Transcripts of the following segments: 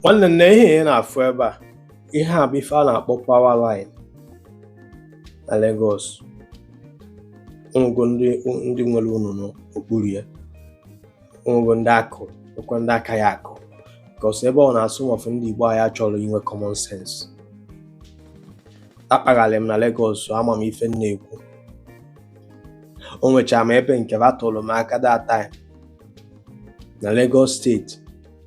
nwanne nne ihe ị na-afụ ebe a ihe a bụ ife a na-akpọ power line na Lagos o nwego ndị ndị nwere ụnọ n'okpuru ya o nwego ndị a kụ ekwe ndị a ka ya-akụ because ebe ọ na-afụ m ụfụ ndị Igbo anyị achọrọ inwe common sense akpagharị m na Lagos ama m ife m na-ekwu o nwechara m ebe nke batụrụ m aka that time na Lagos steeti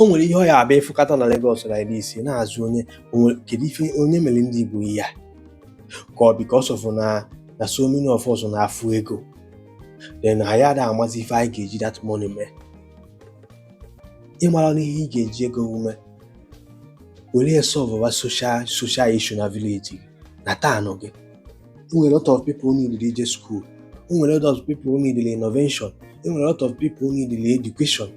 o nwere ihe ị ya-abịa ị fụkata na Lagos na ebe isi na-ajụ onye onwe- kedu ife onye mere ndị Igbo ihe a ka ọ because of na na so many of us na-afụ ego then anyị ada amazi ife anyị ga-eji that money mee ị mara na ihe ị ga-eji ego mee were ya solve social social issue na village gị na town gị e nwere a lot of people need ije school e nwere a lot of people need innovation e nwere a lot of people need education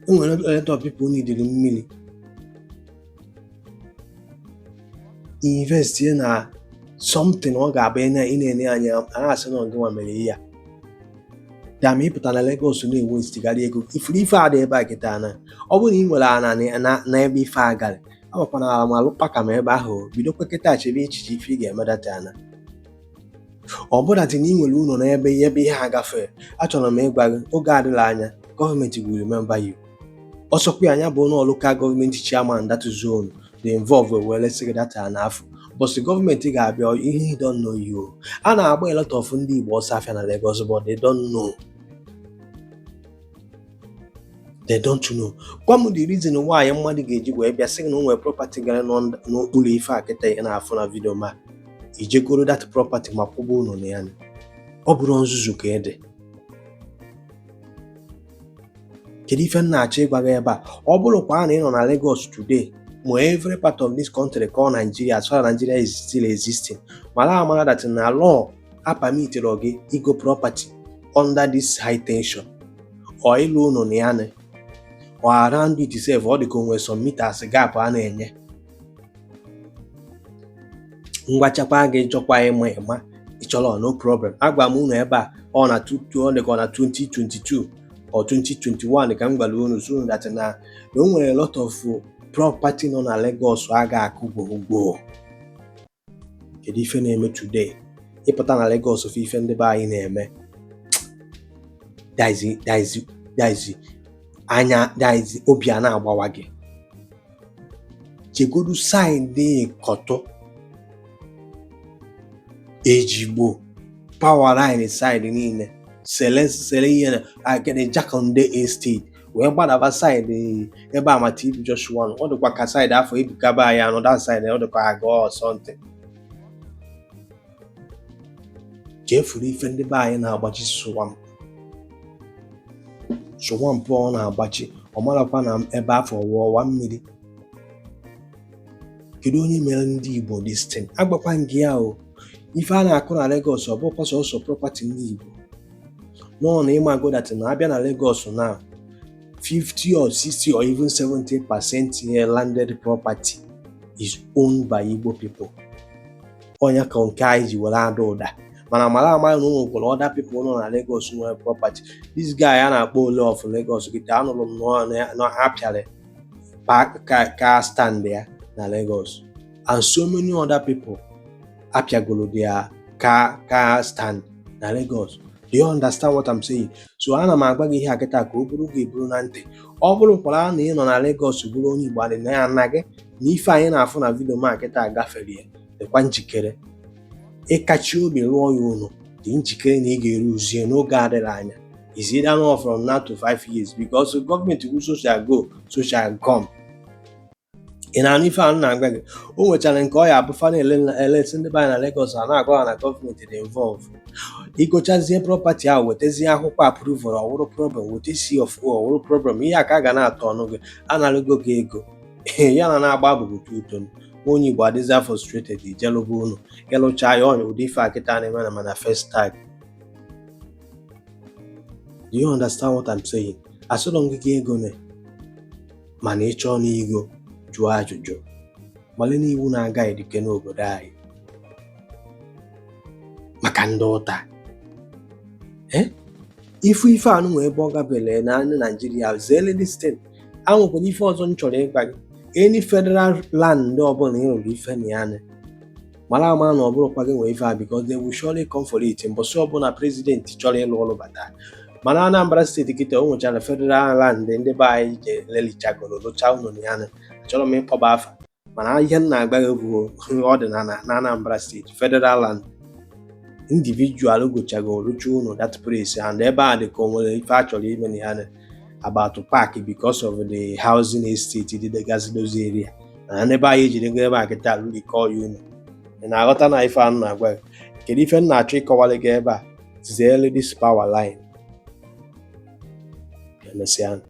e nwere a lot of people need mmiri invest na something ọ ga-abụ ị na-ene anya a na-asị na ọ gịnwa mere ihe a kama ịpụta na Lagos na-investigharị ego ị fụrụ ife a dị ebe a kịta na ọ bụrụ na ị nwere ana na ebe ife a gara agbakwanala m alụkpa ka m ebe ahụ bidokwa kịta chebe echiche ife ị ga-eme that ana ọ bụrụdị na ị nwere ụlọ n'ebe ebe ihe a gafee achọrọ m ịgwa gị oge adịla anya gọọmenti will remember you ọ sọkwa ya bụ na local gọọmenti chairman that zone dị involve wee lesị gị that ana afụ ụbọsị gọọmenti ga-abịa he don't know you a na-agba a lot of ndị Igbo ọsọ afịa na Lagos but they don't know they don't know gwa m the reason why mmadụ ga-eji wee bịa sị na o nwere property gara n'okpuru ife a kịta ị na-afụ na vidio ma i je goro that property ma kwụba ụlọ na ya ọ bụrọ nzuzu ka ọ dị kedu ife m na-achọ ịgwa gị ebe a ọ bụrụkwa na ị nọ na Lagos today ma every part of this country called Nigeria as far as Nigeria is still existing mara amara that na law apermitịrọ gị igo property under this high tension or ịlụ ụlọ na ya or around it sef ọ dị ka o nwe some meters gap a na-enye m gwachakwa gị ị chọkwa ịma ị ma ị chọrọ no problem agwa m unu ebe a ọ na ọ dị ka ọ na 2022 or 2021 ka m gwara unu sị that na o nwere a lot of property nọ na Lagos a ga-akụ gboo gboo kedu ife na-eme today ị pụta na Lagos ị fụ ife ndị be anyị na-eme daizi daizi daizi anya daizi obi a na-agbawa gị jegodu saịdị Ikotun Ejigbo power line saịdị niile Cele Cele ihe na akịrị Jakande Estate wee gbadaba side ebe ama TB Joshua nọ ọ dịkwa ka side afụ ibukaba anyị anọ that side ọ dịkwa aga or something chefuru ife ndị be anyị na-agbachi swam swamp ọ na-agbachi ọ marakwa na ebe afụ wụ ọwa mmiri kedu onye mere ndị Igbo this thing agwakwa gị ya o ife a na-akụ na Lagos ọ bụkwa sọsọ property ndị Igbo no na ị mago that na abịa na Lagos na 50 or 60 or even 70 percent landed property is owned by Igbo people ọ nya ka nke anyị ji were ada ụda mana mara ama na o nwekwara other people nọ na Lagos nwere property this guy a na-akpọ Ola of Lagos kịta anụrụ m na ha pịara car stand ya na Lagos and so many other people apịagolo their car car stand na Lagos do you understand what I'm saying so ana m agwa gị ihe a kịta ka ọ bụrụ gị eburu na ntị ọ bụrụ kwara na ị nọ na Lagos bụrụ onye Igbo adị na ya na gị na ife anyị na-afụ na video m a kịta gafere ya dịkwa njikere ịkachi obi rụọ ya ụlọ dị njikere na ị ga-elose ya n'oge adịghị anya is either now from now to five years because the government wụ soldier go soldier come ị na-anụ ife a na-agwa gị o nwechara nke ọ ya abụ fa na-elesi ndị be anyị na Lagos a na-agwa ha na government dị involve i gochazie property ahụ wetazie akwụkwọ approval ọ wụrụ problem weta C of O ọ wụrụ problem ihe a ka a ga na-atọ ọnụ gị analụgo gị ego ya na na-agba abụbụ tuto onye Igbo adịzi frustrated i je lụba ụnọ ị lụcha ya ọ nya ụdị ife a kịta na-eme na mana first time Do you understand what I'm saying? Asịlọ m gị gị egone mana ị chọọ n'igo jụọ ajụjụ mali n'iwu na-aga edike n'obodo anyị maka ndị ụta Eh? ị fụ ife a na o nwee ebe ọ gabele na ana Naịjirịa zeele this thing enwekwara ife ọzọ m chọrọ ịgwa gị any federal land ọbụla ị rụrụ ife na ya nị, mara ama na ọ bụrọkwa gị nwe ife a because they will surely come for it mbọsị ọbụla president chọrọ ịlụ ọrụ bata mana Anambra state kịta o nwechara federal land ndị be anyị je lelichagoro lụcha ụlọ na ya achọrọ m ịkpọba afa mana ihe m na-agwa gị bụ ọ dị n'ala na Anambra state federal land individual gochago rụcha ụlọ that place and ebe a dị ka o nwere ife a chọrọ ime na ya about park because of the housing estate dịgasị those area na n'ebe anyị jiri ngo ebe a kịta alụ ike ọya unu ị na-aghọta na ife a m na-agwa gị kedu ife m na-achọ ịkọwara gị ebe a zere this power line emesịa